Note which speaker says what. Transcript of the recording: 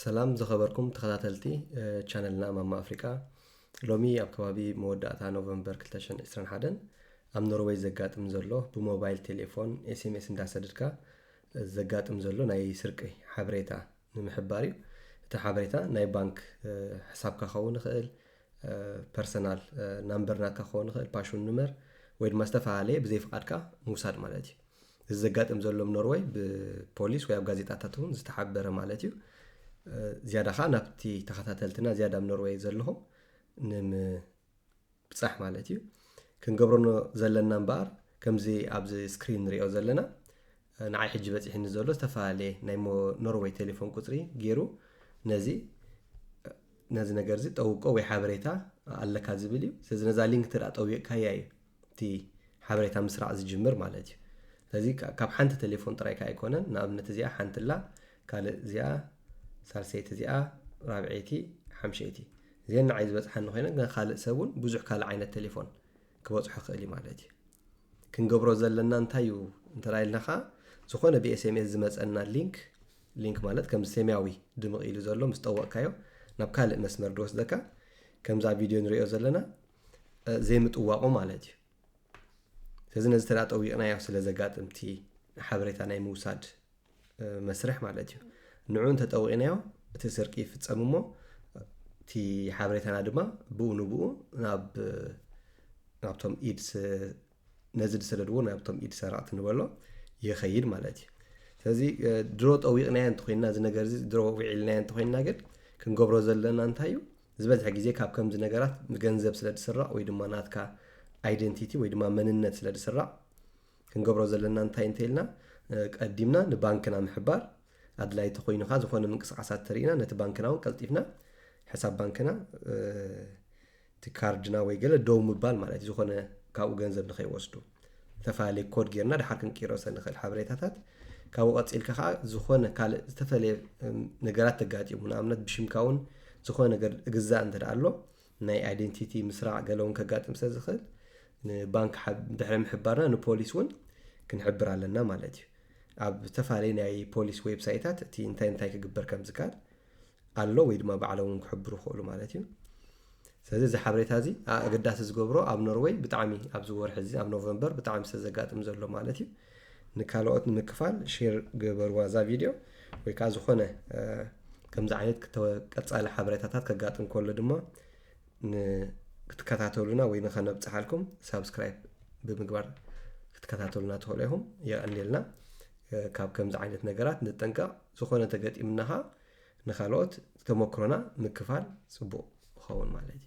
Speaker 1: ሰላም ዝኸበርኩም ተኸታተልቲ ቻነልና ማማ ኣፍሪቃ ሎሚ ኣብ ከባቢ መወዳእታ ኖቨምበር 221 ኣብ ኖርወይ ዘጋጥም ዘሎ ብሞባይል ቴሌፎን ኤስኤምኤስ እንዳሰደድካ ዘጋጥም ዘሎ ናይ ስርቂ ሓበሬታ ንምሕባር እዩ እቲ ሓበሬታ ናይ ባንክ ሕሳብካ ክኸውን ይኽእል ፐርሰናል ናምበር ናትካ ክኸውን ይኽእል ፓሽን ንመር ወይ ድማ ዝተፈላለየ ብዘይ ፍቓድካ ምውሳድ ማለት እዩ እዚ ዘጋጥም ዘሎ ኣብ ኖርወይ ብፖሊስ ወይ ኣብ ጋዜጣታት እውን ዝተሓበረ ማለት እዩ ዝያዳ ከዓ ናብቲ ተኸታተልትና ዝያዳ ኣብ ኖርወይ ዘለኹም ንምብፃሕ ማለት እዩ ክንገብረኖ ዘለና እምበኣር ከምዚ ኣብዚ ስክሪን ንሪኦ ዘለና ንዓይ ሕጂ በፂሕኒ ዘሎ ዝተፈላለየ ናይ ኖርወይ ቴሌፎን ቁፅሪ ገይሩ ነዚ ነዚ ነገር እዚ ጠውቆ ወይ ሓበሬታ ኣለካ ዝብል እዩ ስለዚ ነዛ ሊንክ ትርኣ ጠዊቕካያ እዩ እቲ ሓበሬታ ምስራዕ ዝጅምር ማለት እዩ። ስለዚ ካብ ሓንቲ ቴሌፎን ጥራይ ከኣ ኣይኮነን። ንኣብነት እዚኣ ሓንቲ ኣላ፣ ካልእ እዚኣ፣ ሳልሰይቲ እዚኣ፣ ራብዐይቲ፣ ሓምሸይቲ እዚኤን ንዓይ ዝበጽሓኒ ኮይነን ግን ካልእ ሰብ እውን ብዙሕ ካልእ ዓይነት ቴሌፎን ክበጽሖ ክእል እዩ ማለት እዩ። ክንገብሮ ዘለና እንታይ እዩ እንተ ኢልና ከኣ ዝኾነ ብኤስኤምኤስ ዝመጸና ሊንክ ሊንክ ማለት ከም ሰማያዊ ድምቕ ኢሉ ዘሎ ምስ ጠወቕካዮ ናብ ካልእ መስመር ድወስደካ ከምዛ ቪድዮ ንሪኦ ዘለና ዘይምጥዋቑ ማለት እዩ ስለዚ ነዚ ተዳ ጠዊቕናዮ ስለ ዘጋጥምቲ ሓበሬታ ናይ ምውሳድ መስርሕ ማለት እዩ ንዑ እንተጠዊቕናዮ እቲ ስርቂ ይፍፀም እሞ እቲ ሓበሬታና ድማ ብኡ ንብኡ ናብ ናብቶም ኢድስ ነዚ ዝሰደድዎ ናብቶም ኢድ ሰረቕቲ ንበሎ ይኸይድ ማለት እዩ ስለዚ ድሮ ጠዊቕናዮ እንተኮይንና እዚ ነገር እዚ ድሮ ውዒልናዮ እንተኮይንና ግን ክንገብሮ ዘለና እንታይ እዩ ዝበዝሐ ግዜ ካብ ከምዚ ነገራት ገንዘብ ስለ ዝስራቕ ወይ ድማ ናትካ ኣይደንቲቲ ወይ ድማ መንነት ስለ ዝስራቕ ክንገብሮ ዘለና እንታይ እንተኢልና ቀዲምና ንባንክና ምሕባር ኣድላይ ተኮይኑ ከዓ ዝኾነ ምንቅስቃሳት ተርእና ነቲ ባንክና እውን ቀልጢፍና ሕሳብ ባንክና እቲ ካርድና ወይ ገለ ደው ምባል ማለት እዩ ዝኾነ ካብኡ ገንዘብ ንኸይወስዱ ዝተፈላለየ ኮድ ጌርና ድሓር ክንቅይሮሰ ንኽእል ሓበሬታታት ካብኡ ቀፂልካ ከዓ ዝኾነ ካልእ ዝተፈለየ ነገራት ተጋጢሙ ንኣብነት ብሽምካ እውን ዝኾነ ነገር እግዛእ እንተ ኣሎ ናይ ኣይደንቲቲ ምስራዕ ገለ እውን ከጋጥም ስለ ዝኽእል ንባንክ ድሕሪ ምሕባርና ንፖሊስ እውን ክንሕብር ኣለና ማለት እዩ ኣብ ዝተፈላለዩ ናይ ፖሊስ ዌብሳይታት እቲ እንታይ እንታይ ክግበር ከም ዝከኣል ኣሎ ወይ ድማ ባዕሎም ውን ክሕብሩ ይኽእሉ ማለት እዩ ስለዚ እዚ ሓበሬታ እዚ ኣገዳሲ ዝገብሮ ኣብ ኖርወይ ብጣዕሚ ኣብዚ ወርሒ እዚ ኣብ ኖቨምበር ብጣዕሚ ስለ ዘጋጥም ዘሎ ማለት እዩ ንካልኦት ንምክፋል ሼር ገበርዋ እዛ ቪድዮ ወይ ከዓ ዝኾነ ከምዚ ዓይነት ቀፃሊ ሓበሬታታት ከጋጥም ከሎ ድማ ክትከታተሉና ወይ ንኸነብፅሓልኩም ሳብስክራይብ ብምግባር ክትከታተሉና ትኽእሉ ኢኹም የቐኒልና ካብ ከምዚ ዓይነት ነገራት ንጠንቀቕ ዝኾነ ተገጢምናኻ ንካልኦት ተሞክሮና ምክፋል ፅቡቅ ይኸውን ማለት እዩ።